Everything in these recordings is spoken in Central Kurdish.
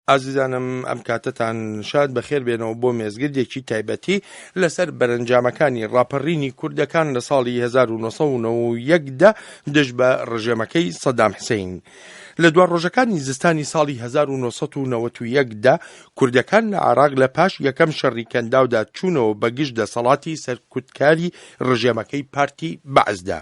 ئازیزانم ئەم کاتەتان شاد بەخێر بێنەوە بۆ مێزگردێکی تایبەتی لەسەر بەرەنجامەکانی ڕاپەڕینی کوردەکان لە ساڵی 1990دا دژ بە ڕژێمەکەی سەدام حسین. لە دوا ڕۆژەکانی زستانی ساڵی 1990دا کوردەکان لە عراق لە پاش یەکەم شەڕی کەنداودا چوونەوە بە گشت دەسەڵاتی سەرکوتکاری ڕژێمەکەی پارتی بەعسدا.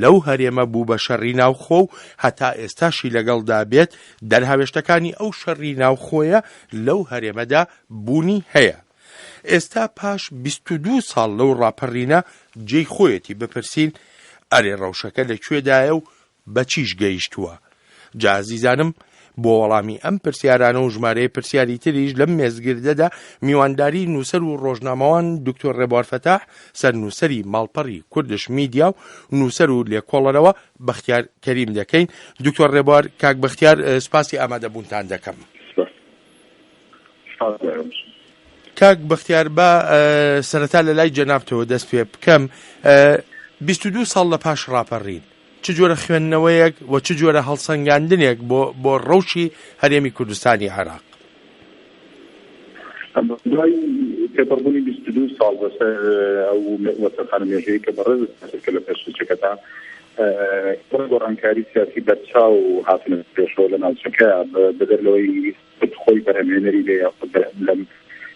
لەو هەرێمە بوو بە شەڕی ناوخۆ و هەتا ئێستاشی لەگەڵدا بێت، دەرهاوێشتەکانی ئەو شەڕی ناوخۆیە لەو هەرێمەدا بوونی هەیە. ئێستا پاش بیست و دوو ساڵ لەو ڕاپەڕینە جێی خۆیەتی بپرسین، ئەرێ ڕەوشەکە لە کوێدایە و بە چیش گەیشتووە؟ جا ئازیزانم بۆ وەڵامی ئەم پرسیارانە و ژمارەیە پرسیاری تریش لەم مێزگردەدا میوانداری نووسەر و ڕۆژنامەوان دکتۆر ڕێبوار فەتاح سەر نووسری ماڵپەڕی کوردش میدیا و نووسەر و لێکۆڵەرەوە بەختیار کەریم دەکەین دکتۆر ڕێبوار کاک بەختیار سپاسی ئامادەبوونتان دەکەم کاک بەختیار با سەرەتا لە لای جەنابتەوە دەست پێ بکەم بیست و دوو ساڵ لە پاش ڕاپەڕین چ جۆرە خوێندنەوەیەک و چ جۆرە هەڵسەنگاندنێک بۆ بۆ ڕەوشی هەرێمی کوردستانی عراق تێپەڕبوونی بیست و دوو ساڵ بەسەر ئەو وەسەخانە مێژەیە کە بەڕێز کە لە پێشچەکەتان بۆ گۆڕانکاری سیاسی بەرچاو هاتنە پێشەوە لە ناوچەکە بەدەر لەوەی خود خۆی بەرهەمێنەری بێ یا خود لەم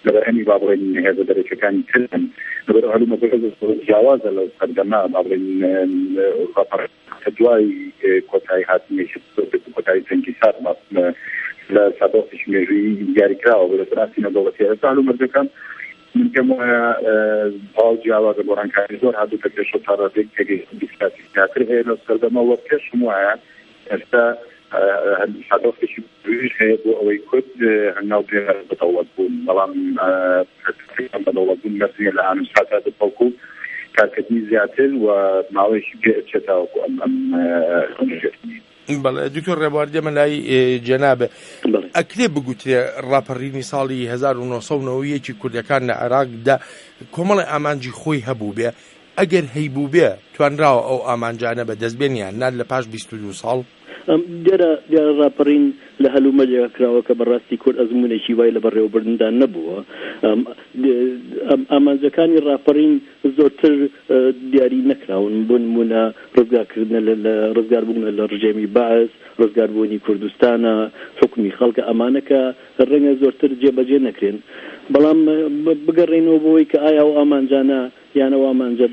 لە بەرهەمی با بڵێن هێزە دەرەکەکانی ترن لەبەر هەلومەرجەکە جیاوازە لەو سەردەما با بڵێن دوای کۆتایی هاتنی کۆتایی جەنگی سارد لە سادۆسیش مێژووی دیاریکراوە بە دەستی نەدەوڵەتی ئێستا هەلومەرجەکان من پێم وایە تەواو جیاوازە، گۆڕانکاری زۆر هاتووتە پێشەوە تا ڕادەیەک تێگەیشتنی سیاسی زیاتر هەیە لەو سەردەمە و پێشم وایە ئێستا هەدەفێکی گرنگ هەیە بۆ ئەوەی کورد هەنگاو بنێرە بە دەوڵەتبوون، بەڵام بە دەوڵەتبوون مەرج نییە لە ئان و ساتا بێت، بەڵکو کارکردنی زیاتر و ماوەیەکی پێ ئەچێت تاوەکو ئەم ئەم هەڵبژێرتنی. بەڵێ دکتۆر ڕێبوار دێمە لای جەنابێ ئەکرێ بگوترێ ڕاپەڕینی ساڵی 1990ەوەیەکی کوردەکان لە عێراقدا کۆمەڵی ئامانجی خۆی هەبوو بێ ئەگەر هەیبوو بێ توانراوە ئەو ئامانجانە بە دەستبێنیان نار لە پاش 22 ساڵ دیارە دیارە ڕاپەڕین لە هەلومەرجێکا کراوە کە بەڕاستی کورد ئەزمونێکی وای لە بەڕێوەبردندا نەبووە ئەم ئامانجەکانی ڕاپەڕین زۆرتر دیاری نەکراون، بۆ نموونە ڕزگارکردنە لە لە ڕزگاربوونە لە ڕژێمی بەعس، ڕزگاربوونی کوردستانە، حوکمی خەڵکە، ئەمانە کە ڕەنگە زۆرتر جێبەجێ نەکرێن. بەڵام بگەڕێینەوە بۆ ئەوەی کە ئایا ئەو ئامانجانە یان ئەو ئامانجە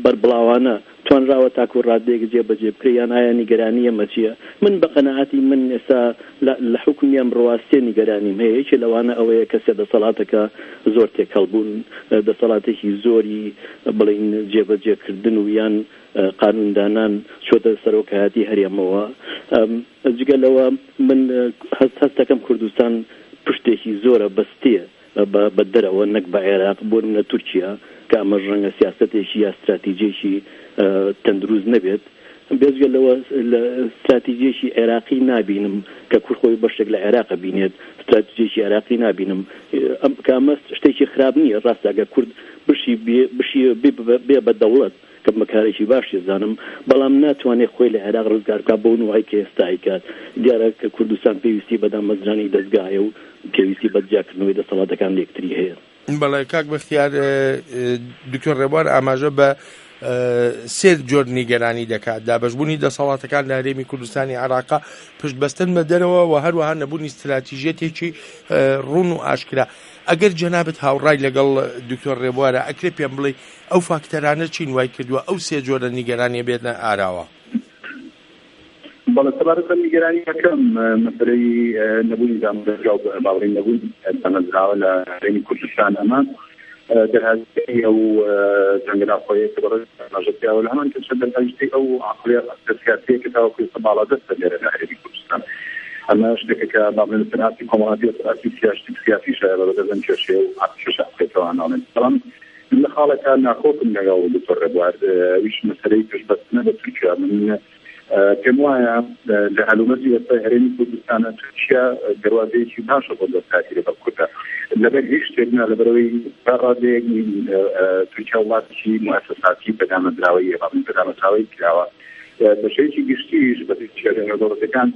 بەربڵاوانە توانراوە تاکوو ڕادەیەک جێبەجێ بکرێ یان ئایا نیگەرانی ئێمە چییە؟ من بە قەناعەتی من ئێستا لە لە حوکمی ئەم ڕوا سێ نیگەرانیم هەیە یەکێ لەوانە ئەوەیە کە سێ دەسەڵاتەکە زۆر تێکەڵ بوون دەسەڵاتێکی زۆری بڵێین جێبەجێ کردن و یان قانون دانان چۆتە سەرۆکایەتی هەرێمەوە جگە لەوە من هەست هەستەکەم کوردستان پشتێکی زۆرە بەستێ بە دەرەوە نەک بە عێراق، بۆ نمونە تورکیا، کە ئەمەش ڕەنگە سیاسەتێکی یا ستراتیجێکی تەندروست نەبێت. بێجگە لەوە لە ستراتیجێکی عێراقی نابینم کە کورد خۆی بەشێک لە عێراق بینێت، ستراتیجێکی عێراقی نابینم کە ئەمە شتێکی خراپ نییە، ڕاستە ئەگەر کورد بشی بێ بشی بێ بە دەوڵەت، کە بە کارێکی باش یەزانم، بەڵام ناتوانێت خۆی لە عێراق ڕزگار بکات بەو نوعەی کە ئێستا ئەیکات، دیارە کە کوردستان پێویستی بە دامەزرانی دەزگاهەیە و پێویستی بە جیاکردنەوەی دەسەڵاتەکان لەیەکتری هەیە. بەڵێ کاک بەختیار، دکتۆر ڕێبوار ئاماژە بە سێ جۆر نیگەرانی دەکات، دابەشبوونی دەسەڵاتەکان لە هەرێمی کوردستانی عێراق، پشت بەستن بە دەرەوە و هەروەها نەبوونی ستراتیژیەتێکی ڕوون و ئاشکرا. ئەگەر جەنابت هاوڕای لەگەڵ دکتۆر ڕێبوارە، ئەکرێ پێم بڵێی ئەو فاکتەرانە چین وای کردووە ئەو سێ جۆرە نیگەرانیە بێتنە ئاراوە؟ بەڵێ سەبارەت بە نیگەرانی یەکەم مەسەلەی نەبوونی دامودەزگا و باوەڕی نەبوونی دامەزراوە لە هەرێمی کوردستان ئەمە دەرهاویشتەی ئەو جەنگە ناوخۆیەیە کە بەڕێز ئاماژە پیاوە لە هەمان کەشە دەرهاویشتەی ئەو عەقڵیەتە سیاسییە کە تاوەکو ئێستا باڵادەستە لێرە لە هەرێمی کوردستان ئەمە شتێکە کە با بڵێین لەسەر ئاستی کۆمەڵاتی و لەسەر ئاستی سیاسی سیاسیشە بە بەدەست ئەم کێشەیە و کێشە عەقڵیەتەوە ناڵێن بەڵام من لە خاڵێکا ناکۆکم لەگەڵ دکتۆر ڕێبوار، ئەویش مەسەلەی پشتبەستنە بە تورکیا. من پێم وایە لە هەلومەرجی ئێستای هەرێمی کوردستانا تورکیا دەروازەیەکی باشە بۆ دەستکاریی لەگەڵ کوردا لەبەر هیچ شتێک نا، لەبەرئەوەی تا ڕادەیەک تورکیا وڵاتێکی موئەسەساتی بەدامەزراوەییە، بەڵام بەدامەزراوەیی کراوە. بە شێوەیەکی گشتیش بە پێچەوانەی نێودەوڵەتییەکان،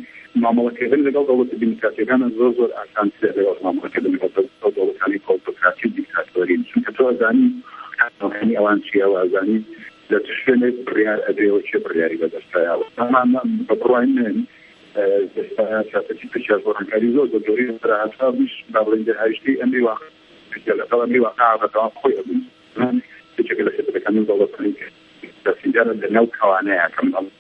مامەڵەکردن لەگەڵ دەوڵەتە دیموکراتییەکان زۆر زۆر ئاسانترە لەگەڵ مامەڵەکردن لەگەڵ ئەو دەوڵەتانەی کە ئۆتۆکراتی و دیکتاتۆرین، چونکە تۆ ئەزانی کانۆنەکانی ئەوان چییە و ئەزانی لە چ شوێنێک بڕیار ئەدرێ و کێ بڕیاری بە دەستایە و ئەمان بە بڕوای من ئێستا سیاسەتی تورکیاش بۆ ڕەنگکاری زۆر زۆر گەورەی لەسەرا هاتووە، ئەمەیش با بڵێین دەرهاویشتەی ئەمری واقع تورکیا لەگەڵ ئەمری واقع بەردەوام خۆی ئەبینێت. من یەکێکە لە خێزەتەکانی و دەوڵەتانی کە سیاسییەکانە لەناو کەوانەیە کە من ئەڵێم.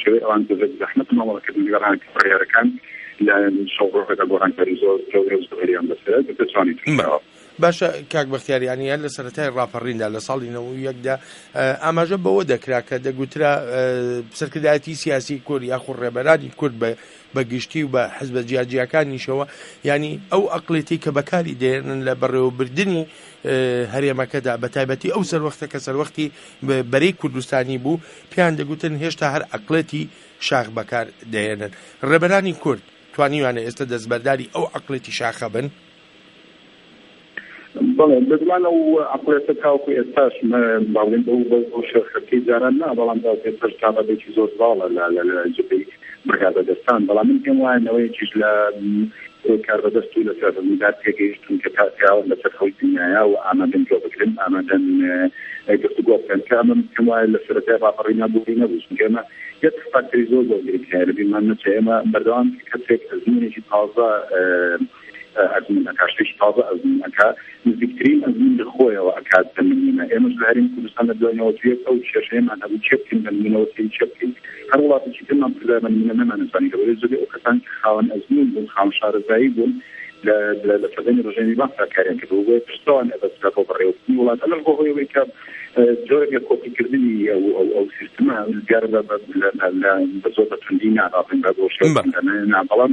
شێوەی ئەوان بەبێ زەحمەت مامەڵە کردن لەگەڵ هاککارەکان لە شەو ڕۆژەکە گۆڕانکاری زۆر گەورە و زۆریان بەسەرە دەتوانین توشبوین. باشە کاک بەختیار یانی هەر لە سەرەتای ڕاپەڕیندا لە ساڵی نەوەد و یەکدا ئاماژە بەوە دەکرا کە دەگوترا سەرکردایەتی سیاسی کورد یاخود ڕێبەرانی کورد بە بە گشتی و بە حزبە جیاجیاکانیشەوە ینی ئەو ئەقلێتی کە بەکاری دێنن لە بەڕێوەبردننی هەرێمەکەدا بە تایبەتی ئەو سەروەختە کە سەروەختی بەرەی کوردستانی بوو پێیان دەگوتن هێشتا هەر عەقڵێتی شاخ بەکار دەهێنن. ڕێبەرانی کورد توانیویانە ئێستە دەستبەرداری ئەو عەقڵێتی شاخە بن؟ بەڵێ، بێگومان ئەو عەقڵێتە تاوەکو ئێستاش با بڵێین بەو شۆرخەتکەی جاران نا، بەڵام تاوەکو ئێستاش تابەتێکی زۆر زاڵە لە جبهەی بە کاربەدەستان، بەڵام من پێم وایە نەوەیەکیش لە کۆی کاربەدەست و لەسەر ڕزگار تێگەیشتوون کە تا پیاوان لەسەر خەوی دنیایە و ئامادەن گوێ بگرن، ئامادەن گفتوگۆ بکەن، کە ئەمە پێم وایە لە سەرەتای ڕاپەڕینا بوونی نەبوو، چونکە ئێمە یەک فاکتەری زۆر زۆر گرنگ هەیە لە بیرمان نەچێ، ئێمە بەردەوام کەسێک ئەزموونێکی تازە، ئەزموون ئەکات، شتێکی تازە ئەزموون ئەکات، نزیکترین ئەزموون لە خۆیەوە ئەکات بە نموونە ئێمەش لە هەرێمی کوردستان لە دوای نەوەت و یەک ئەو کێشەیەمان هەبوو چێ بکەین بە نموونەوە سەیری چێ بکەین، هەر وڵاتێکی ترمان پرسیار بە نموونە نەمانەزانی لەوەی زۆربەی ئەو کەسانەی کە خاوەن ئەزموون بوون خاوەن شارەزایی بوون لە لە سەردەمی ڕژێمی بەعسدا کاریان کردبوو بۆیە پرسەوان ئەبەسترا بۆ بەڕێوەبردنی وڵات ئەمەش بۆ هۆی ئەوەی کە جۆرێک لە کۆپیکردنی ئەو ئەو ئەو سیستمە دیارە بە بە لە لە بە زۆر بە توندی نا ڕاستن بە بۆ شێوەی بەڵام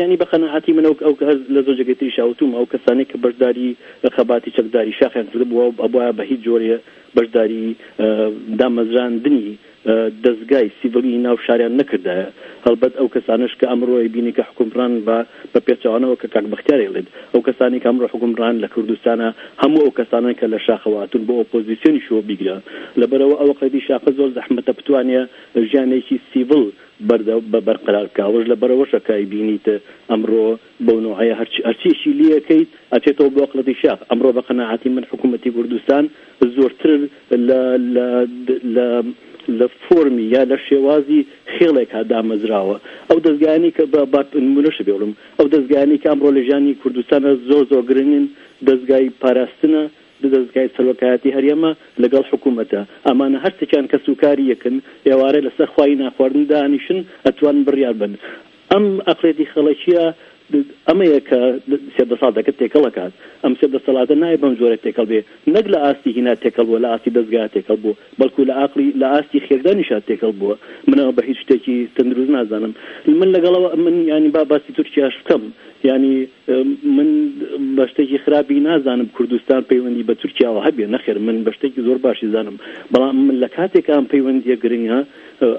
یانی بە قەناعەتی من ئەو کە هەر لە زۆر جێگەی تریشا وتووم، ئەو کەسانەی کە بەشداری خەباتی چەکداری شاخیان کردبووە و ئەبوایە بە هیچ جۆرێ بەشداری دامەزراندنی دەزگای سیڤیلی ناو شاریان نەکردایە، هەڵبەت ئەو کەسانەش کە ئەمڕۆ ئەیبینی کە حوکمڕان بە بە پێچەوانەوە کە کاک بەختیار ئەیڵێت ئەو کەسانەی کە ئەمڕۆ حوکمڕان لە کوردستانە هەموو ئەو کەسانەن کە لە شاخەوە هاتوون بۆ ئۆپۆزیسیۆنیش و بیگرە لەبەرئەوە ئەوەقەدی شاخە زۆر زەحمەتە بتوانێ ژیانێکی سیڤیل بەردەوام بە بەرقەرار کا ڕۆژ لەبەر ڕۆژە کای بینیت ئەمڕۆ بەو نۆعەیە هەرچ هەرچیشی لێ ئەکەیت ئەچێتەوە بۆ ئەقڵەتی شاخ ئەمڕۆ بە قەناعەتی من حکوومەتی کوردستان زۆرتر لە لە لە لە فۆرمی یا لە شێوازی خێڵێکا دامەزراوە ئەو دەزگایانی کە بە با نموونەشە بێڵم ئەو دەزگایانی کە ئەمڕۆ لە ژیانی کوردستانە زۆر زۆر گرنگن دەزگای پاراستنە دو دەزگای سەرۆکایەتی هەرێمە لەگەڵ حکومەتە ئەمانە هەرسێکیان کەس و کاری یەکن ئێوارێ لەسەر خوای ناخواردن دانیشن ئەتوانن بریار بەن ئەم ئەقڵێتی خەڵکیە ئەمەیە کە سێ دەسەڵاتەکە تێکەڵ ئەکات ئەم سێ دەسەڵاتە نایە بەم جۆرە تێکەڵ بێ نەک لە ئاستی هینا تێکەڵ بوە لە ئاستی دەزگا تێکەڵ بوە بەڵکو لە ئاقڵی لە ئاستی خێردانیشا تێکەڵ بوە من ئەوە بە هیچ شتێکی تەندروست نازانم من لەگەڵەوە من یانی با باسی تورکیاش بکەم یانی من بە شتێکی خراپی نازانم کوردستان پەیوەندی بە تورکیاوە هەبێ نەخێر من بە شتێکی زۆر باشی زانم بەڵام من لە کاتێک ئەم پەیوەندیە گرنگە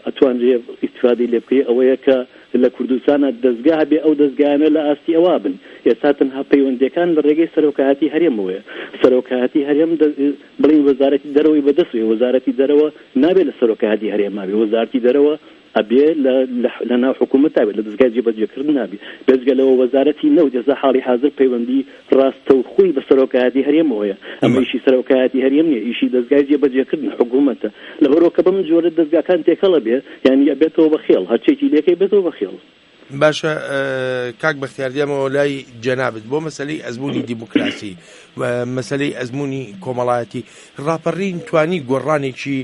ئەتوانرێ ئیسفادی لێ بکەی ئەوەیە کە لە کوردستانە دەستگا هەبێ ئەو دەستگایانە لە ئاستی ئەوە بن ئێستا تەنها پەیوەندەکان لە ڕێگەی سەرۆکایەتی هەرێمەوەە سەرۆکایەتی هەرێم بڵین وەزارەتی دەرەوەی بەدەستێ وەزارەتی دەرەوە نابێت لە سەرۆکایەتی هەرێماوی وەزارتی دەرەوە ئەبێ لە لە ناو حکوومەتا بێت، لە دەزگای جێبەجێکردنا بێت، بێجگە لەوە وەزارەتی نەوت ئێستا حاڵی حازر پەیوەندی ڕاستەوخۆی بە سەرۆکایەتی هەرێمەوە هەیە، ئەمە ئیشی سەرۆکایەتی هەرێم نییە، ئیشی دەزگای جێبەجێکردنە، حکوومەتە. لەبەرئەوە کە بەم جۆرە دەزگاکان تێکەڵ ئەبێ، یانی ئەبێتەوە بە خێڵ، هەرچییەکی لێ کەی بێتەوە بە خێڵ. باشە کاک بەختیار دێمەوە لای جەنابت بۆ مەسلەی ئەزمموی دیموکراسی مەسلەی ئەزمموی کۆمەڵایەتی ڕاپەڕین توانی گۆڕانێکی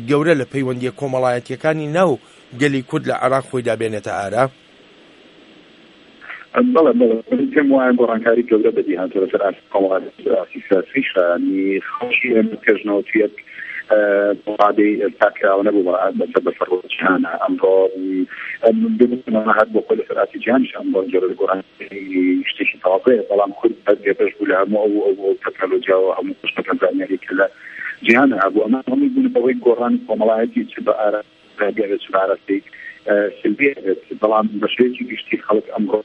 گەورە لە پەیوەندیە کۆمەڵایەتیەکانی ناو گەلی کورد لە عراق خۆی دابێنێتە ئارا بەڵێ بەڵێ پێم وایە گۆڕانکاری گەورە بەدی هاتووە لەسەر ئاست قەوارەی ئاستی سیاسی شایانی خەڵکی ئێمە پێش نەوەد و یەک بەو ڕادەی ئێستا کراوە نەبوو بەڕەحەت بەسەر بەسەر ڕۆژ جیهانە ئەمڕۆ ببوومە هەر بۆ خۆی لەسەر ئاستی جیهانیش ئەمڕۆ جۆرە گۆڕان شتێکی تازەیە بەڵام کورد بەر بێبەش بوو لە هەموو ئەو ئەو ئەو تەکنەلۆجیا و هەموو قشتەکە زانیاری کە لە جیهانە هەبوو ئەمە هەمووی بوون بەوەی گۆڕانی کۆمەڵایەتی چ بە ئارا بێت چ بە ئاراستەی سلبیە بێت بەڵام بە شێوەیەکی گشتی خەڵک ئەمڕۆ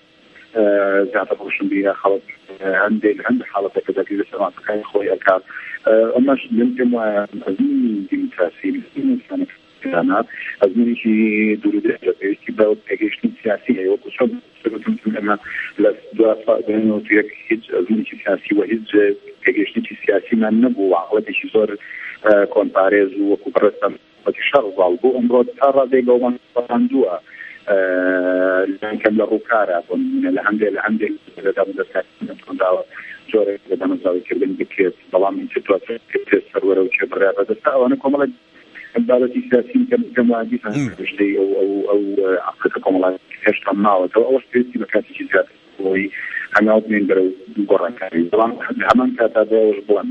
زیاتر ڕۆشنبیرە خەڵک هەندێک هەندێک حاڵەتێک کە دەگری لەسەر مافەکانی خۆی ئەکات ئەمەش من پێم وایە ئەزموونی دیموکراسی ئەزموونی ئینسانەکان دانا ئەزمونێکی دوورودرێژ لە پێویستی بە پێگەیشتنی سیاسی هەیە وەکو چۆن سەرتم ئەمە لە دوا ساڵ دوێنەوەتوێک هیچ ئەزمونێکی سیاسی وە هیچ پێگەیشتنێکی سیاسیمان نەبوو عقڵەتێکی زۆر کۆنپارێز و وەکو بڕستم حکومەتی شەڕڤاڵ بۆ ئەمڕۆ تا ڕادەی لۆڵەنگ سەپاندووە لانی کەم لە ڕووکارە بۆ نموونە لە هەندێ لە هەندێک لە دامودەستەکان تۆنداوە جۆرێک لە دامەزراوەیکردن بکرێت بەڵام ئیتر دواتر کردێت سەروەرە و کێ بڕیار بەدەستە ئەوانە کۆمەڵێک بابەتی سیاسی کە کەم وادی پشتەی ئەو ئەو ئەو عقلەکە کۆمەڵایەتی هێشتا ماوەتەوە ئەوەش پێویستی بە کاتێکی زیاتر بۆی هەنگاو بنێن بەرەو گۆڕانکاری بەڵام لە هەمان کاتا بۆ ئەوەش بڵێم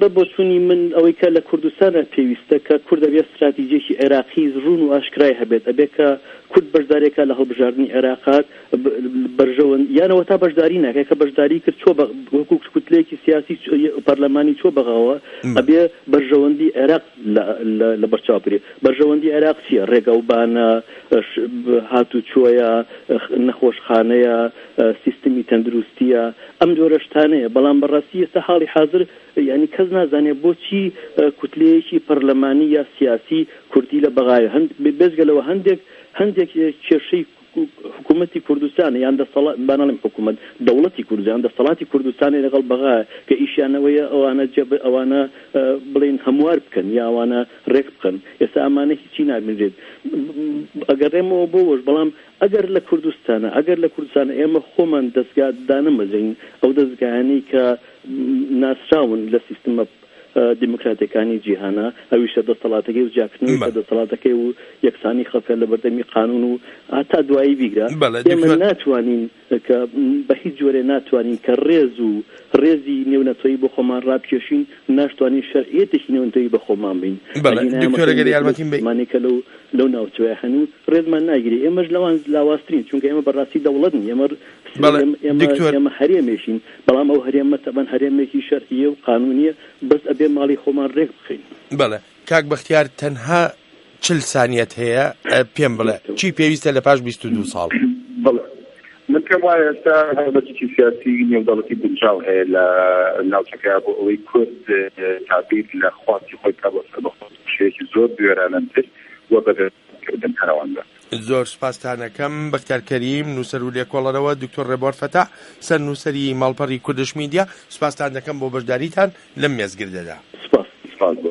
بە بۆچوونی من ئەوەی کە لە کوردستانە پێویستە کە کورد دەبێت ستراتیجێکی عێراقی ڕوون و ئاشکرای هەبێت ئەبێ کە کورد بەشدارێکە لە هەڵبژاردننی عێراقات بەرژەوەن یانەوە تا بەشداری ناکە کە بەشداری کرد چۆ وەکو کوتلەیەکی سیاسی پەرلەمانی چۆ بەغاوە ئەبێ بەرژەوەندی عێراق لە بەرچاو بێ بەرژەوەندی عێراق چیە ڕێگەوبانە هاتوچۆیە نەخۆشخانەیە سیستمی تەندروستییە، ئەم جۆرە شتانەیە. بەڵام بە ڕاستی ئێستا حاڵی حازر یانی کەس نازانێ بۆچی کوتلەیەکی پەرلەمانی یا سیاسی کوردی لە بەغایە؟ هەن بێجگە لەوە هەندێک هەندێک کێشەی حکوومەتی کوردستانە یان دەسەڵا با نەڵێم حکوومەت، دەوڵەتی کوردستان یان دەسەڵاتی کوردستانی لەگەڵ بەغا کە ئیشیان ئەوەیە ئەوانە جێ بە ئەوانە بڵێن هەموار بکەن یا ئەوانە ڕێک بخەن. ئێستا ئەمانە هیچی نابینرێت. ئەگەڕێمەوە بۆ وەش بەڵام ئەگەر لە کوردستانە ئەگەر لە کوردستانە ئێمە خۆمان دەزگا دانەمەزرێنین ئەو دەزگایانەی کە ناسراون لە سیستمە دیموکراتەکانی جیهانە ئەویشە دەستەڵاتەکەی و جیاکردنەوەی بە دەستەڵاتەکەی و یەکسانی خەڵکە لە بەردەمی قانون و هەتا دوایی بیگرە ئێمە ناتوانین کە بە هیچ جۆرێ ناتوانین کە ڕێز و ڕێزی نێونەتەوەیی بۆ خۆمان ڕابکێشین، ناشتوانین شەرعیەتێکی نێونەتەوەیی بە خۆمان بین. بەڵێ دکتۆرە گەر یارمەتیم بەی. مانێ کە لەو لەو ناوچەوە هەن و ڕێزمان ناگیرێ ئێمەش لەوان لاوازترین چونکە ئێمە بە ڕاستی دەوڵەت نین ئێمە بەڵێ دکتۆر. ئێمە هەرێمێکین بەڵام ئەو هەرێمە تەبەن هەرێمێکی شەرعیە و قانونیە بەس ئەبێ ماڵی خۆمان ڕێک بخەین. بەڵێ کاک بەختیار تەنها چل سانیەت هەیە پێم بڵێ چی پێویستە لە پاش بیست و دوو ساڵ؟ بەڵێ من پێم وایە ئێستا هەڵمەتێکی سیاسی نێودەوڵەتی گونجاو هەیە لە ناوچەکە بۆ ئەوەی کورد تابیر لە خواستی خۆی کا بۆ سەربەخۆی شێکی زۆر بوێرانەتر و بەدەستکردن هەرەوەندە. زۆر سپاستانەکەم بەختیار کەریم نووسەر و لێکۆڵەرەوە دکتۆر ڕێبوار فەتاح سەر نووسەری ماڵپەڕی کوردش میدیا سپاستان دەکەم بۆ بەشداریتان لەم مێزگردەدا. سپاس سپاس بۆ.